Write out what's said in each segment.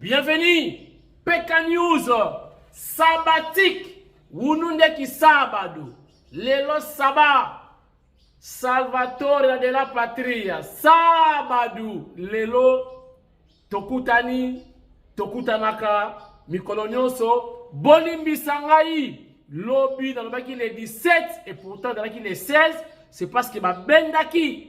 Bienvenue PK News sabbatique wunu nde kisabado lelo saba salvatore de la patria sabadu lelo tokutani tokutanaka mikolo nyonso bolimbisa ngai lobi nalobaki le 17 et pourtant ezalaki le 16 c'est parce que babendaki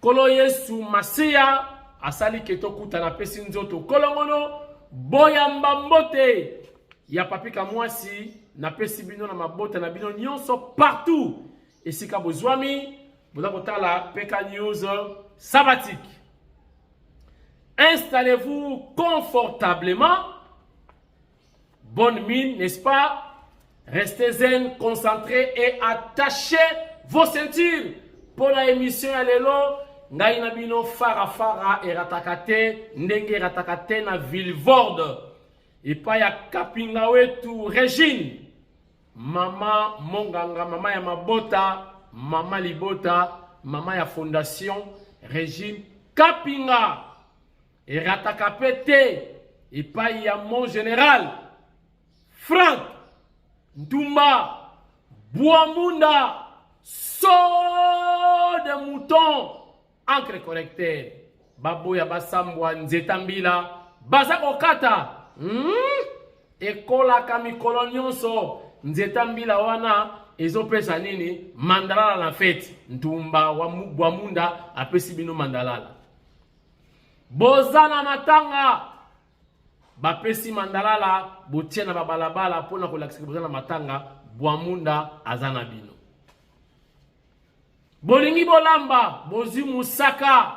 Kolo Yesu Masia asali ke tokuta na pesi nzoto kolongono boyamba mbote ya papi kamwasi napesi bino na mabota na bino nyonso partout esika bozwami boza kotala peka news sabbatique installez-vous confortablement Bonne mine, n'est-ce pas? Restez zen, concentrés et attachez vos ceintures. Pour la émission à l'élo, ngai na bino fara fara erataka te ndenge erataka te na villevorde epai ya kapinga wetu regine mama monganga mama ya mabota mama libota mama ya fondation regine kapinga Erataka pe te epai ya mon general Frank Ntumba Buamunda saut de mouton encre correcteur baboya basambwa nzeta mbila baza kokata hmm? ekolaka mikolo nyonso nzeta mbila wana ezopesa nini mandalala na feti ntumba wa bwamunda apesi bino mandalala Boza na matanga bapesi mandalala botie na babalabala mpo na kolakisa boza na matanga bwamunda aza na bino bolingi bolamba bozwi mosaka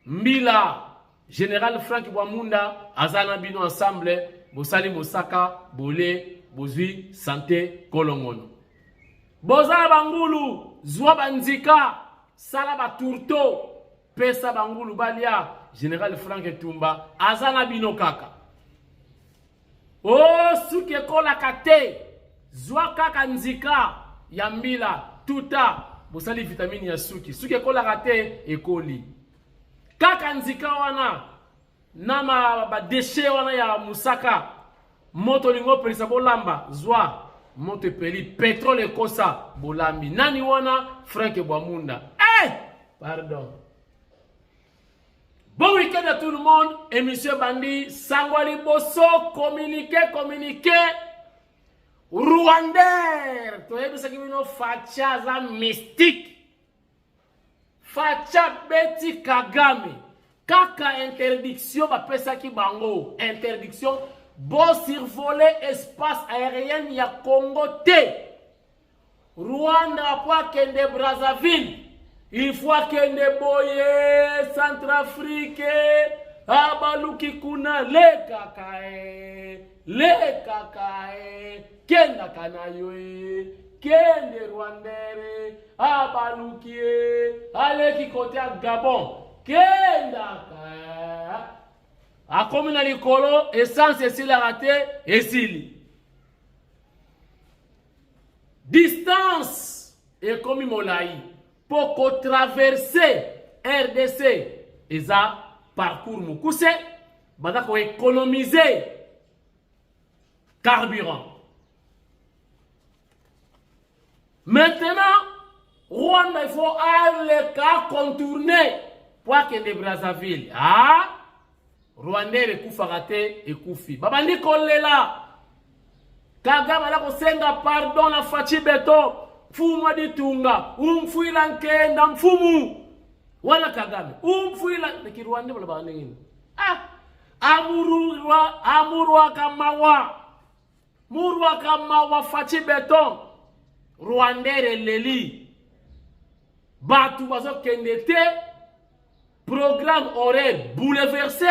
mbila general frank bwamunda aza na bino ensemble bosali mosaka bole bozwi sante kolongono boza na bangulu zwa banzika sala batourto Pesa bangulu balia General Frank Tumba aza na bino kaka. Oh suki ekolaka te. Zwa kaka nzika ya mbila tuta bosali vitamini ya suki. Suki ekolaka te ekoli. Kaka nzika wana na badeshe wana ya mosaka moto olingi opelisa bolamba zwa moto epeli petrole ekosa bolambi nani wana frank bwamunda hey! Eh! pardon bon week-end à tout le monde émission bandi sango ya liboso communiqué communiqué rwander toyebisaki bino facha aza mystique Facha beti Kagame kaka interdiction bapesaki bango interdiction bo survoler espace aérien ya Congo te Rwanda po akende Brazzaville il faut akende boye Centrafrique abaluki kuna lekaka eh. lekaka e kendaka na yo e kende rwandere abaluki e aleki kote ya gabon kendaka e. akomi na likolo esanse esilaka te esili distance ekomi molai mpo kotraverse rdc eza parcours mokuse baza ko economiser carburant maintenant rwanda il faut aleka contourner po akende brazzaville ah? rwandais ekufaka te ekufi babandi kolela Kagame ala kosenga pardon na Fatshi Beton, mfumu aditunga, umfuila nkenda mfumu. Wana Kagame, umfuila na Kirwanda balobaka ndenge nini? Ah, amurwa amurwaka mawa. Murwaka mawa Fatshi Beton. Rwandais eleli. Batu bazokende te. Programme horaire bouleversé.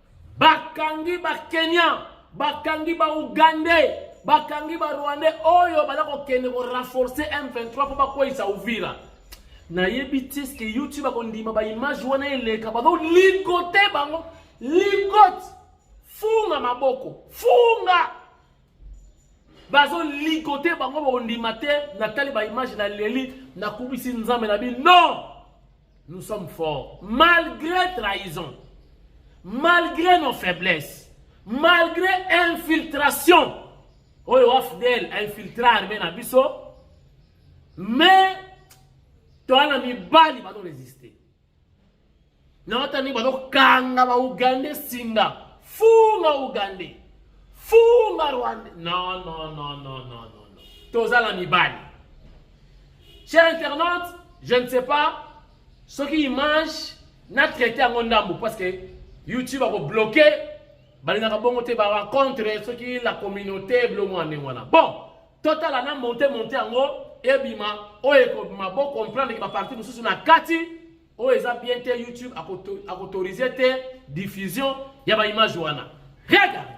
Bakangi ba Kenya, bakangi ba Ougandais, bakangi ba Rwandais oyo bala kokende ko renforcer M23 mpo bakweyisa Uvira. Nayebi te ce que YouTube akondima ba image wana eleka bazo ligote bango ligote funga maboko funga bazo ligote bango bakondima te natali ba image na leli nakubisi nzambe na bino Nous sommes forts malgré trahison, malgré nos faiblesses, malgré infiltration. Oyo Afdel infiltra armée na biso, mais toana mibali bazo résister. Na otani bazo kanga ba Ougandais singa, funga Ougandais, funga Rwandais. Non non non non non non. Tozala mibali. Cher internaute, je ne sais pas soki image na traite yango ndambu parce que YouTube ako bloquer balingaka bongo te bawa contre soki la communauté bilongo ya ndenge wana bon totala na monte monte yango ebima oyo ekobima bo comprendre ke baparti mosusu na kati oyo eza bien te youtube akoautorize te diffusion ya baimage wana regarde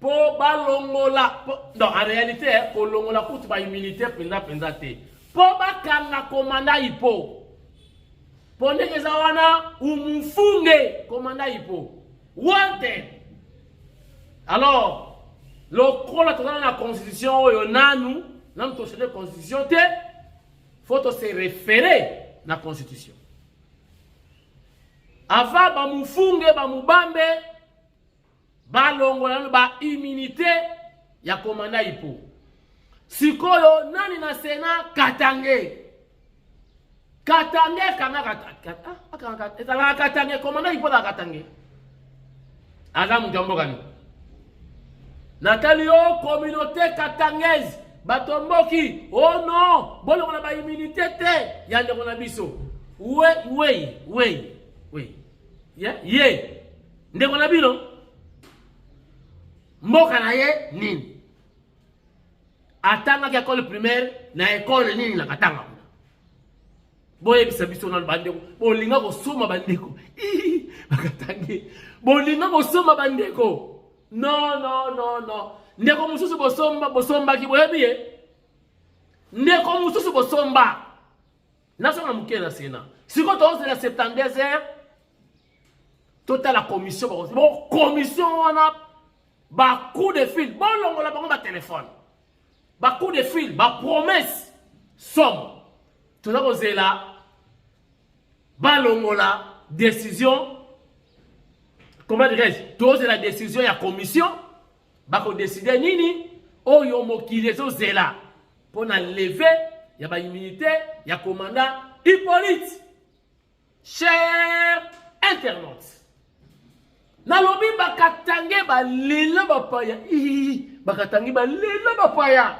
mpo balongola donc en réalité eh, kolongola kutu bahumilité mpenza mpenza te mpo bakanga komanda ipo mpo ndenge eza wana umufunge komanda ipo wanted alors lokola tozana na constitution oyo nanu nanu tochange constitution te faut tose référer na constitution ava bamufunge bamubambe balongola nano ba immunité ya komanda ipo sikoyo nani na sena katange katange kangaka ezalaka katange komanda ipo na katange aza moto ya mboka nini natali yo communauté katangaise batomboki o oh no bolongola baimmunité te ya ndeko na biso wei wei wei wei ye yeah? yeah. Ndeko na bino mboka na ye nini? Atangaki ekole primaire na ekole nini na Katanga kuna? Boyebisa biso nanu bandeko, bolinga kosoma bandeko bakatangi, bolinga kosoma bandeko. No, no, no, no. Ndeko mosusu bosomba bosombaki boyebi ye? Ndeko mosusu bosomba nazonga moke na sena sikoyo tozela 72 heures totala commission bakosi bo commission wana bacoup de fil bolongola bango batelefone bacoup de fil bapromesse somo toza kozela balongola décision comment dirais-je tozela décision ya commission bakodeside nini oyo mokili ezozela mpo na leve ya ba immunité ya commandant Hippolyte cher internaute nalobi bakatange balela bapaya bakatange balela bapaya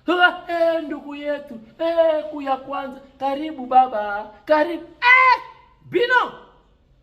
e ndugu yetu e, kuya kwanza karibu baba karibu e, bino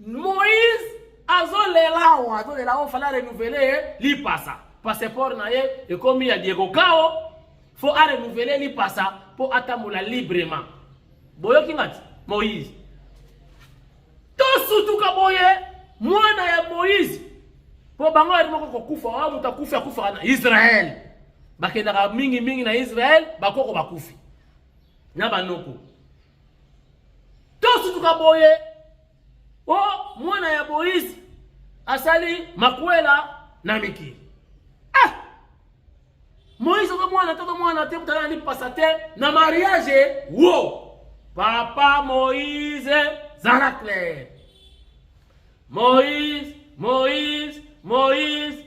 Moïse azolela o azolela o fala renouveler ye lipasa passeport na ye ekomi ya Diego Kao fo a renouveler lipasa mpo atambola librement boyoki ngati Moïse tosutuka boye mwana ya Moïse mpo bango yali moko kokufa oyo moto akufi akufaka na Israël bakendaka mingi mingi na Israël bakoko bakufi na banoko tosutuka boye o oh, mwana ya moise asali makwela na mikili ah! moise oza mwana te oza mwana te mutala ni pasa te na mariage wo papa moise zala claire moise moise moise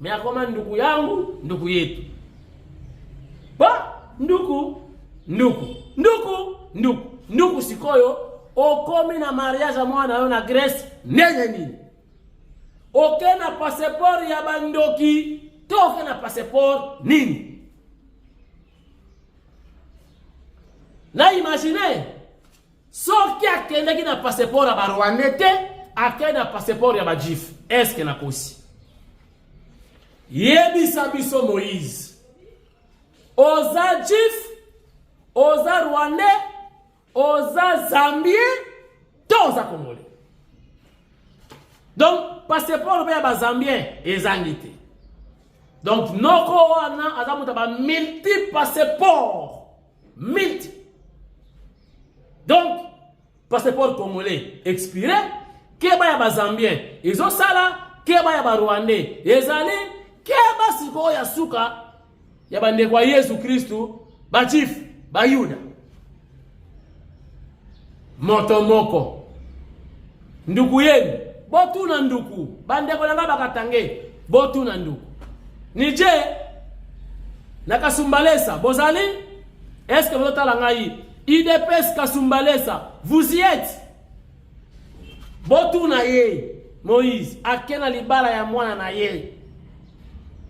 Me akoma nduku yangu, nduku yetu. Ba nduku, nduku, nduku, nduku, nduku sikoyo okomi na mariage ya mwana yo na Grèce ndenge nini? Oke na passeport ya bandoki to oke na passeport nini? Là, imaginez, soki akendaki na passeport ya ba rwandais te akei na passeport ya bajif eske nakosi yebisa biso moïse oza jif oza rwandais oza zambien to oza congolais donc passeport mpe ya bazambien ezangi te donc noko wana aza moto ya bamulti passeport Milti. Donc, passeport congolais expiré, keba ya bazambien ezosala, keba ya barwandais ezali, keba sikoyo ya suka ya bandeko ya Yesu Kristu, bachifu, bayuda. Moto moko. Nduku yenu, botuna nduku. Bandeko na ngai bakatange, botuna nduku. Nije, na Kasumbalesa, bozali? Est-ce que bozotala ngai? IDPS Kasumbalesa, vous y êtes? Botuna ye, Moïse, ake na libala ya mwana na ye.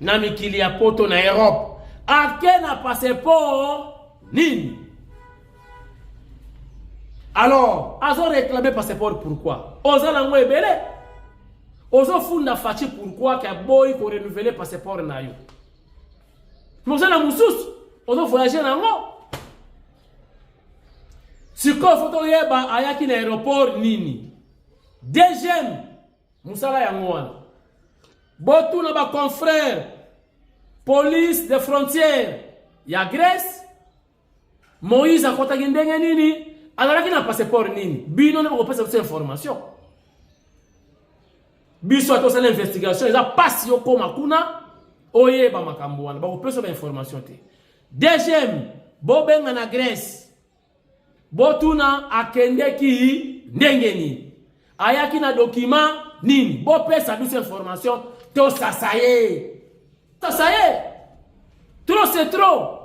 Na mikili ya poto na Europe. Ake na passeport nini? Alors, azo réclamer passeport pourquoi? Oza nango ebele. Ozo funda fachi pourquoi ka boy ko renouveler passeport na yo. Moza na mususu, ozo voyager nango. Sikoyo foto yeba ayaki na aéroport nini? Deuxième, musala yango wana. Botuna ba confrères police des frontières ya Grèce Moïse akotaki ndenge nini? Azalaki na passeport nini? Bino nde bokopesa biso information. Biso atosala investigation eza pasi okoma kuna oyeba makambo wana bakopesa ba information te. Deuxième, bobenga na Grèce. Botuna akendeki ndenge nini? ayaki na dokima nini bopesa biso information tosasa ye tasa ye trop c'est trop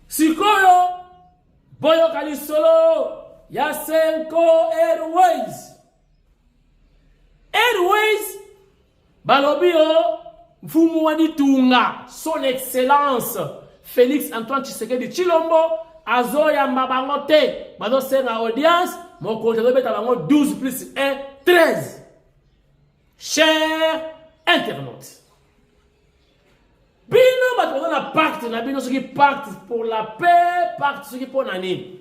sikoyo boyoka lisolo ya senko airways airways Balobi yo mfumu wa ditunga son excellence Felix Antoine Tshisekedi Chilombo azoyamba bango te bazosenga audience mokonzi azobeta bango 12 plus 1 13 cher internaute bino bato baza na pacte na bino soki pacte pour la paix pacte soki mpo na nini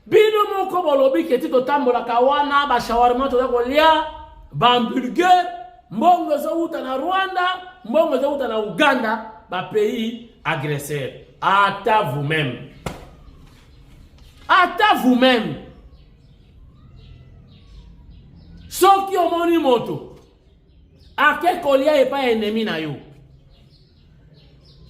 bino moko bolobi ke ti totambolaka wana bashawarma toza kolia bahamburger mbongo ezowuta na rwanda mbongo ezowuta na uganda bapays agresseur ata vous-même ata vous-même soki omoni moto ake kolia epai ya enemi na yo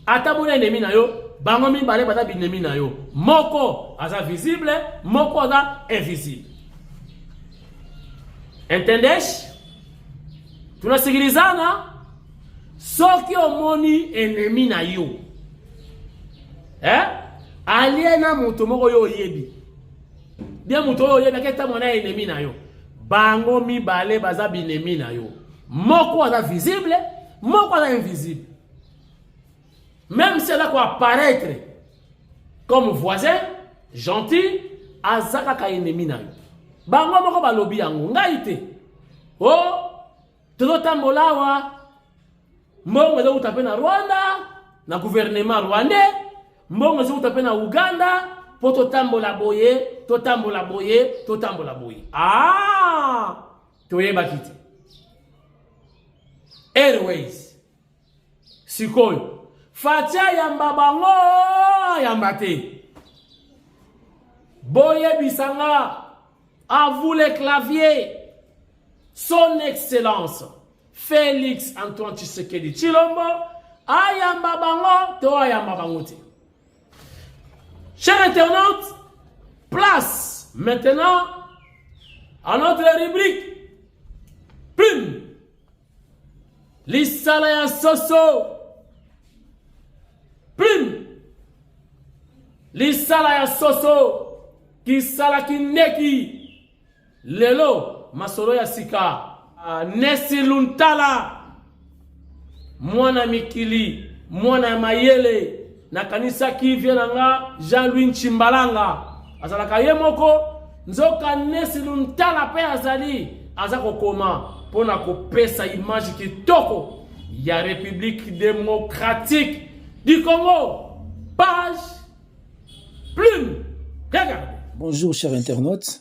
ata mona enemi na yo bango mibale baza binemi na yo moko aza visible moko aza invisible entendesh tunasikilizana soki omoni enemi na yo eh? alie na moto moko yo oyebi bie moto oyo oyebi aketamo na enemi na yo Bango mibale baza binemi na yo. Moko aza visible, moko aza invisible. Même si aza ko apparaître comme voisin, gentil, aza kaka ennemi na yo. Bango moko balobi yango, ngai te. Oh, tozotambola awa mbongo ezowuta mpe na rwanda na guvernema rwandais Mbongo ezouta mpe na Uganda mpo totambola boye totambola boye totambola boye. Ah, toyebaki te. Airways sikoyo Fatia yamba bango yamba te boyebisa nga à vous les claviers son excellence Felix Antoine Tshisekedi Tshilombo ayamba bango to ayamba bango te. Cher internaute, place maintenant à notre rubrique Plume. Lisala ya soso. Plume. Lisala ya soso. Kisala kineki. Lelo masolo ya sika ah, Nesi Luntala mwana mikili mwana ya mayele nakanisaki vie na nga Jean-Louis Nchimbalanga azalaka ye moko nzoka Nesi Luntala mpe azali aza kokoma mpo na kopesa image kitoko ya République démocratique du Congo page plume regardez bonjour chers internautes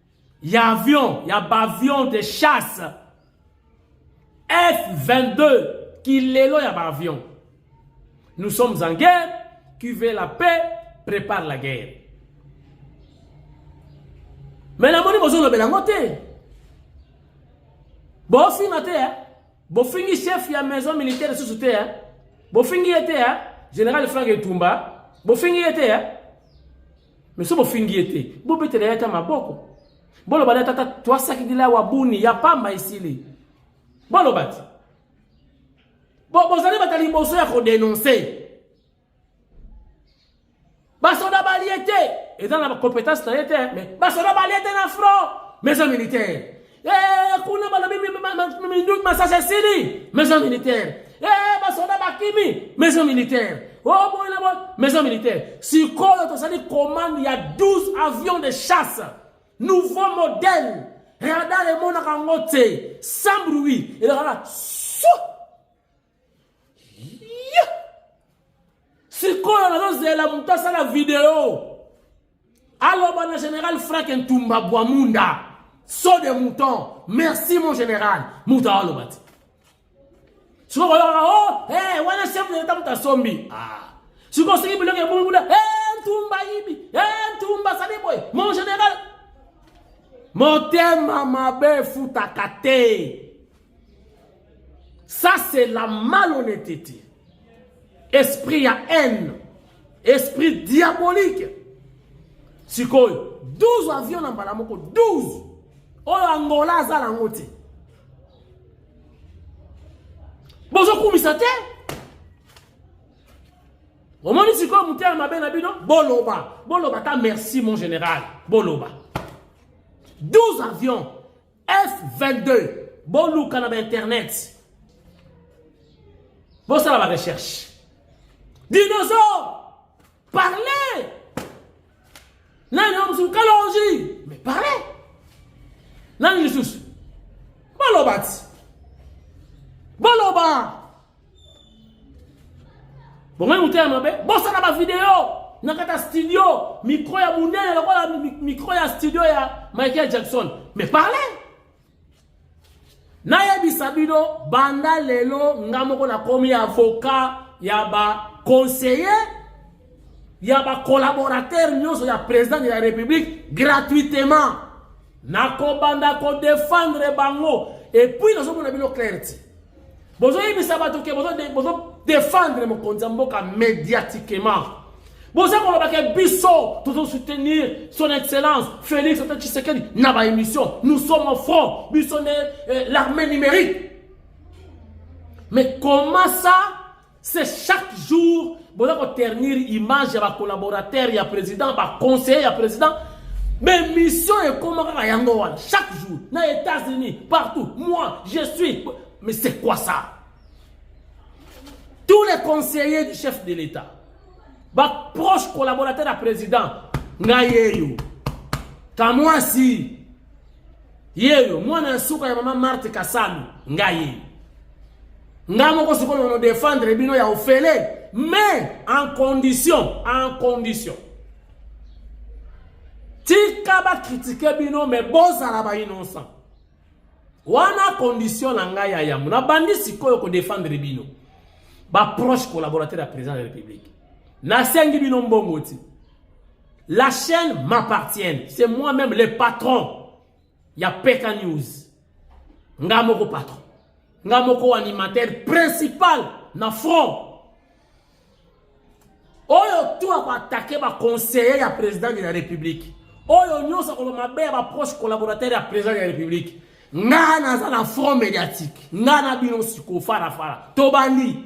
ya avion ya baavion de chasse F22 kilelo ya baavion nous sommes en guerre qui veut la paix prépare la guerre mais namoni bozolobela yango te bofinga te eh? bofingi chef ya maison militaire lisusu te eh? bofingi ye te eh? général frank etumba bofingi ye te eh? Mais sobo fingi ye te, bobetela ye ata maboko. Boloba na tata twasakidila wa buni ya pamba esili. Boloba ti. Bo bozali bata liboso ya ko denoncer. Basoda balie te, eza na compétence na ye te, mais basoda balie te na front. Maison militaire. Eh, kuna balobi minduki masasi esili maison militaire eh, basoda bakimi maison militaire oboye na boye maison militaire sikoyo tosali commande ya 12 avions de chasse nouveau modèle radar emonaka yango te sans bruit elakaka sikoyo nazozela moto asala video aloba na général frank ntumba bwamunda so de mouton merci mon général moto aoloba te sikoyo koyokaka o oh, hey, eh, wana chef de leta moto asombi ah. sikoyo soki biloko ebongi kuna hey, eh, ntumba yibi hey, eh, ntumba sali boye mon général motema mabe efutaka te Ça c'est la malhonnêteté. Esprit ya haine. Esprit diabolique. Sikoyo 12 avions na mbala moko 12 oyo Angola aza nango te. Bozokumisa te. omoni sikoyo motema mabe na bino boloba boloba ta merci mon général boloba 12 avions F22 boluka na bainternet bosala barecherche dinosaure parle nani oyo mosusu kalongi mais parle nani lisusu baloba ti baloba bongai motema mabe bosala bavideo na kata studio micro ya monene lokola micro ya studio ya michael jackson mais parle nayebisa bino banda lelo nga moko nakomi avocat ya baconseiller ya bacollaborateur nyonso ya président de la république gratuitement nakobanda ko defendre bango et puis nazomona bino clair ti bozoyebisa bato ke bozo defendre mokonzi ya mboka mediatiquement boza koloba ke biso tozo soutenir son excellence félix ata tshisekedi na baémission nous sommes au front biso nde eh, l'armée numérique mais comment ça C'est chaque jour boza ko ternir image ya ba collaborateurs ya président ba conseillers ya président mais mission ekoma kaka yango wana chaque jour na États-Unis partout moi je suis mais c'est quoi ça tous les conseillers du chef de l'État ba proche collaborateur ya président ngai yeyo kamwasi yeyo mwana ya suka ya mama marte kasami ngai yeyo ngai moko sikoyo no defendre bino ya ofele mais en condition en condition tika bakritike bino me bozala bainnocent wana condition na ngai ya yambo nabandi sikoyo kodefendre bino baproche collaborateur ya président de la république nasengi bino mbongo ti La chaîne m'appartienne. C'est moi-même le patron. Ya Peka News. Nga moko patron. Nga moko animateur principal na front. Oyo tout ako attaquer ba conseiller ya président de la République. Oyo nyoso ko mabe ya ba proche collaborateur ya président de la République. Nga naza na front médiatique. Nga na bino siko fara fara. Tobandi.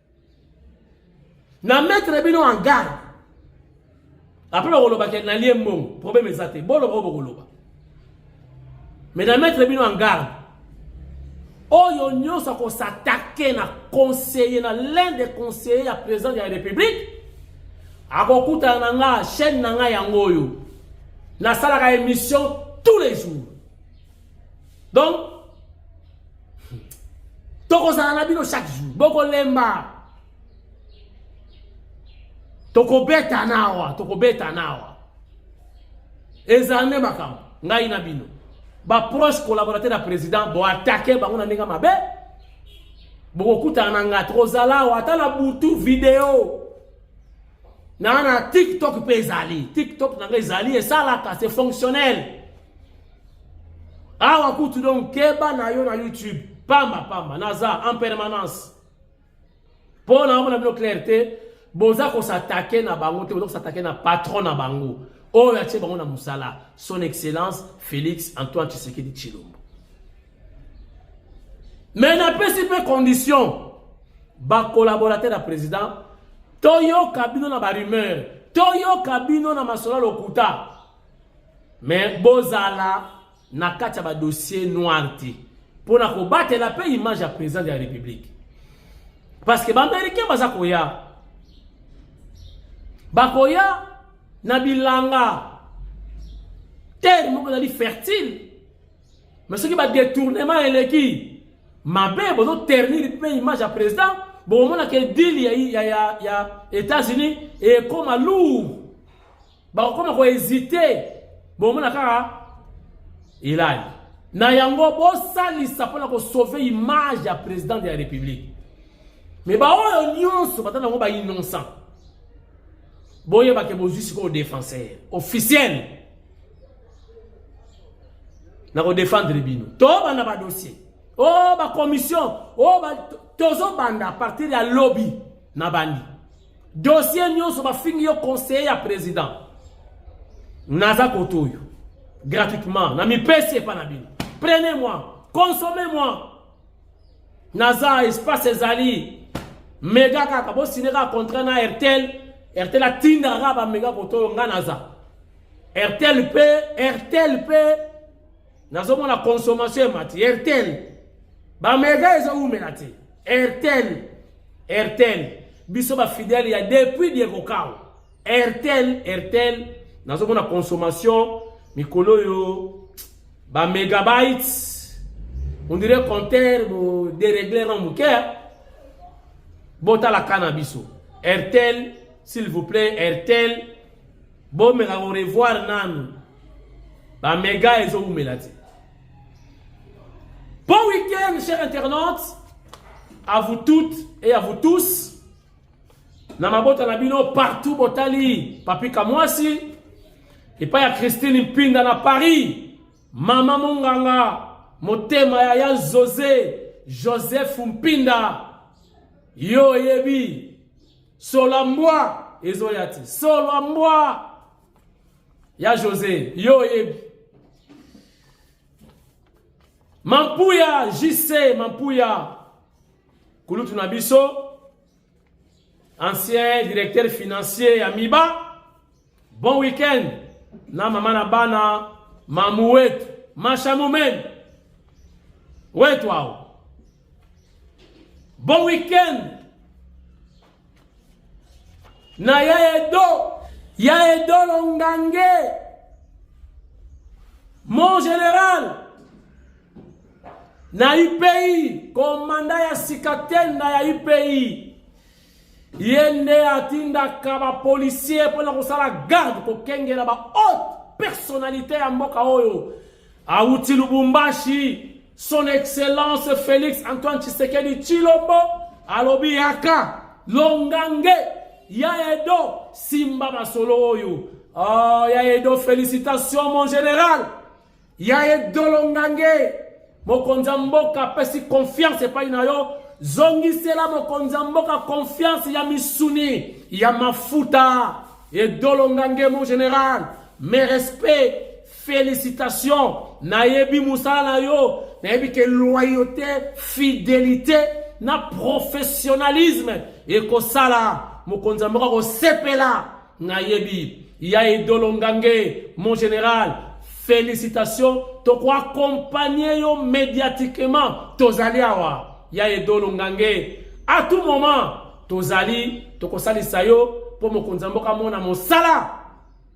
na mettre bino en garde apres bakoloba ke nalie mbongo problème eza te boloba oyo bokoloba mais na mettre bino en garde oyo nyonso akosatake na conseiller na l'un des conseillers ya président ya république akokutana na nga chaîne na nga yango oyo nasalaka émission tous les jours donc tokozala na bino chaque jour bokolemba tokobeta nawa tokobeta nawa ezala nde makambo ngai na bino baproche collaborateur ya président boatake bango na ndenge mabe bokokutana na ngai tokozala awa ata na butu video na na tiktok mpe ezali tiktok na ngai ezali esalaka se fonctionnel awa kutu donc keba na yo na youtube pamba pamba naza en permanence mpo na omona bino claire te boza kosatake na bango te boza kosatake na patron na bango oyo atie bango na mosala son excellence félix antoine tshisekedi tshilombo me napesi mpe condition bacolaborateur ya président toyoka bino na barumeur toyoka bino na masolo lokuta me bozala na kati ya badossier noir te mpo na kobatela mpe image ya président de la république parce que baaméricain baza koya bakoya na bilanga terre moko ezali fertile me soki badetournement eleki mabe bozoternir mpe image ya président bokomonaka edile ya, ya, ya, ya états-unis ekoma lourd bakokoma ko hésiter bomona kaka elali na yango bosalisa mpona kosauve image ya président de la république me baoyo nyonso bata nango bainnocent boyebake bozwi sikoyo défenseur officiel na kodefendre bino tobanda badossier o oh, bacommission o oh, tozobanda a partir ya lobi na bandi dossier nyonso bafingi yo conseiller ya président naza kote oyo gratuitement na mipesi epa na bino prenez moi consommez moi naza espace ezali mega kaka bosine kaka contrat na airtel airtel atindaka kaka bamega kote oyo ngai naza airtel mpe airtel mpe nazomona consommation emati airtel bamega ezowumela te airtel airtel biso bafidele ya depuis diekokau airtel airtel nazomona consommation mikolo oyo bamegabytes ondire compteur boderegle na moke botalaka na biso airtel s'il vous plaît airtel bomeka korevoir nanu ba mega ezo umela te bon week-end chers internautes à vous toutes et à vous tous na mabota na bino partout botali papi kamwasi epai ya christine mpinda na paris mama monganga motema ya ya jose joseph mpinda yo oyebi sola mbwa ezoya te sola mbwa Ya Jose, yo oyebi. Mampuya JC Mampuya kulutu na biso ancien directeur financier ya Miba. Bon week-end na mama na bana mamu wetu masha mumeni wetu awo. Bon week-end na ya edo ya edo longange mon général na ipi komanda ya sika tenda ya ipi ye nde atindaka bapolisier mpo na kosala garde kokengela bahaute personnalité ya mboka oyo Awuti Lubumbashi, son excellence Felix Antoine Tshisekedi Tshilombo alobi yaka longange ya Edo simba masolo oyo. Oh, ya Edo félicitations mon général. Ya Edo longange mokonzi ya mboka apesi confiance epai na yo zongisela mokonzi ya mboka confiance ya misuni ya mafuta edolonga ngemo general mes respects Felicitation nayebi musala na yo nayebi ke loyauté fidelité na professionnalisme ekosala mokonzi ya mboka akosepela nayebi ya idolo ngange mon général felicitation tokoaccompagne yo médiatiquement tozali awa ya idolo ngange à tout moment tozali tokosalisa yo mpo mokonzi ya mboka amona mosala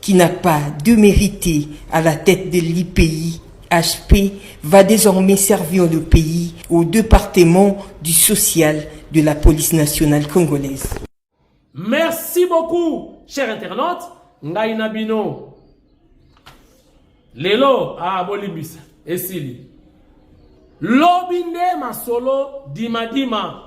qui n'a pas de mérité à la tête de l'IPI, HP, va désormais servir le pays au département du social de la police nationale congolaise. Merci beaucoup, cher internaute. Ngai na bino. Lelo, ah, bolimbisa, esili. Lobi nde masolo dimadima. Dima.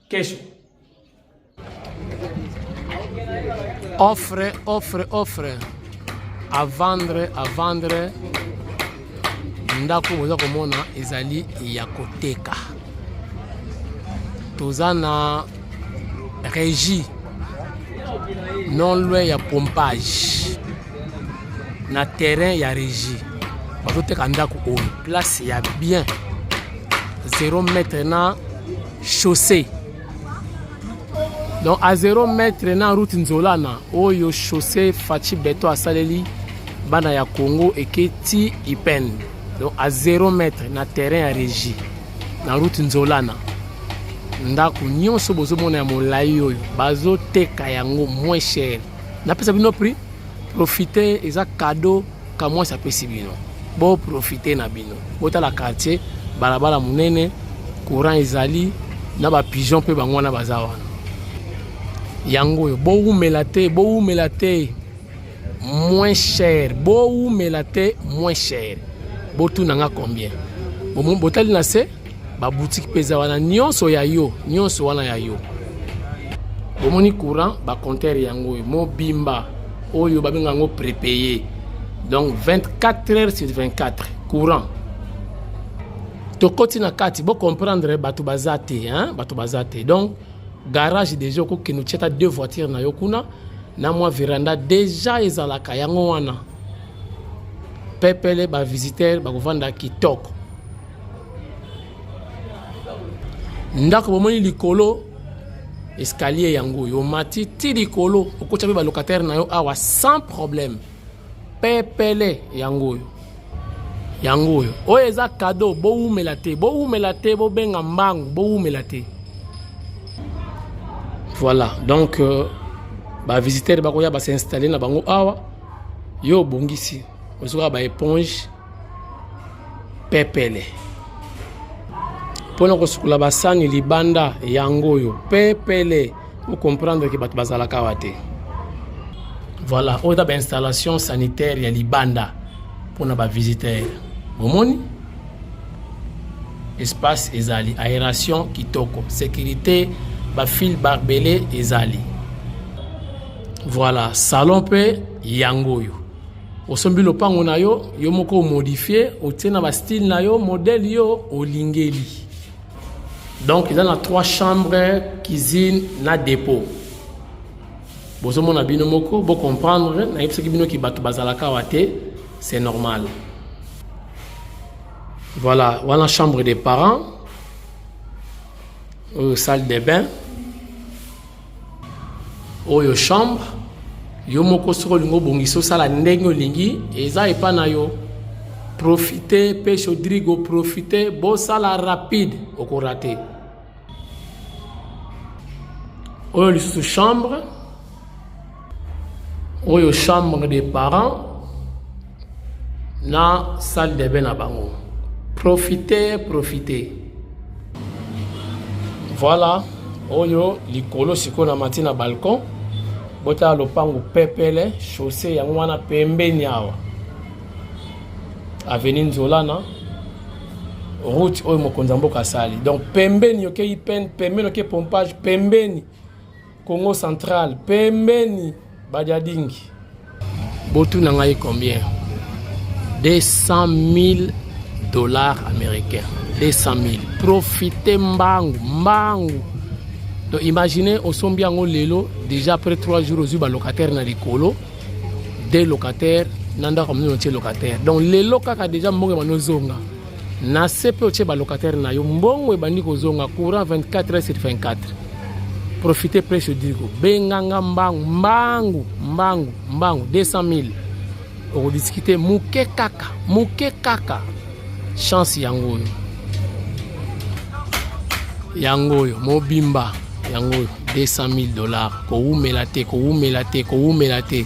kesho offre offre offre à vendre à vendre ndako boza komona ezali ya koteka toza na régie non loin ya pompage na terrain ya régie bazoteka ndako oyo place ya bien 0 mètre na chaussee donc a 0 mètre na route nzolana oyo chaussee faci beton asaleli bana ya congo eke ti ipen donc a 0 mètre na terrain ya régie na route nzolana ndako nyonso bozomona ya molai oyo bazoteka yango moins cher napesa bino prix profite eza cadeau Kamwasi apesi bino bo profite na bino, botala quartier, balabala munene, courant ezali na ba pigeon mpe bango wana baza wana. Yango oyo bowumela te, bowumela te moins cher, bowumela te moins cher. Botuna nga combien? Botali na se ba boutique peza wana nyonso ya yo nyonso wana ya yo bomoni courant ba compteur yango oyo mobimba oyo babenga yango prépayé donc 24 heures sur 24 courant tokoti na kati bocomprendre bato baza te hein? bato baza te donc garage déjà okokende otya ata deux voiture na yo kuna na mwa veranda déjà ezalaka yango wana pepele bavisiteur bakovanda kitoko ndako bomoni likolo escalier yango oyo omati ti likolo okotya mpe balocataire na yo awa sans problème pepele yango oyo yango oyo oyo eza kado bowumela te bowumela te bobenga mbangu bowumela te voilà donc euh, bavisitere bakoya basinstalle na bango awa yo obongisi ozoka baeponge pepele mpo na kosukola basani libanda yango oyo pepele okomprendre ke bato bazalaka awa te voilà oyo eza bainstallation sanitaire ya libanda mpo na bavisiteur bomoni espace ezali aération kitoko sécurité bafil barbele ezali voilà salon mpe yango oyo osombi lopango na yo yo moko omodifie otie na bastyle na yo modele yo olingeli donc eza na trois chambre cuisine na dépôt bozomona bino moko bocomprendre nayebisaki bino ki bato bazalaka awa te c'est normal voilà wana chambre des parents oyo salle de bain oyo chambre yo moko soki olingi obongisa osala ndenge olingi eza epa na yo profite mpe chaudrigo profite bosala rapide okorate oyo lisusu chambre oyo chambre des parents na salle de bain na bango profite profite voilà oyo likolo sikoyo na mati na balcon botala lopango pepele chaussée yango wana pembeni awa avenue nzolana route oyo mokonzi ya mboka asali donc pembeni okei pene pembeni okei pompage pembeni Congo central pembeni bajadingi. Botu na ngai combien? 200 000 dollars américains. 200 000. Profitez mbangu, mbangu. Donc imaginez osombi yango lelo déjà après 3 jours ozwi ba locataire na likolo, deux locataires na ndako mino locataire. Donc lelo kaka déjà mbongo manozonga. na se mpe otye balocataire na yo mbongo ebandi kozonga courant 24 heures sur 24 profite presse odigo benganga mbangu mbangu mbangu mbangu 200 000 okodiskite moke kaka moke kaka chance yango oyo yango oyo mobimba yango oyo 200 000 dollars kowumela te kowumela te kowumela te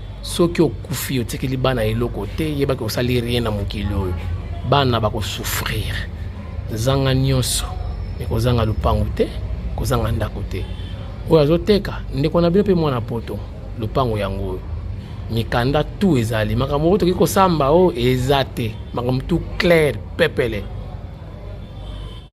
soki okufi otikeli bana eloko te yebaki osali rien na mokili oyo bana bakosouffrir zanga nyonso ekozanga lupangu te kozanga ndako te oyo azoteka ndeko na bino mpe mwana poto lupangu yango oyo mikanda tu ezali makambo oyo tokoki kosamba oyo eza te makambo tu claire pepele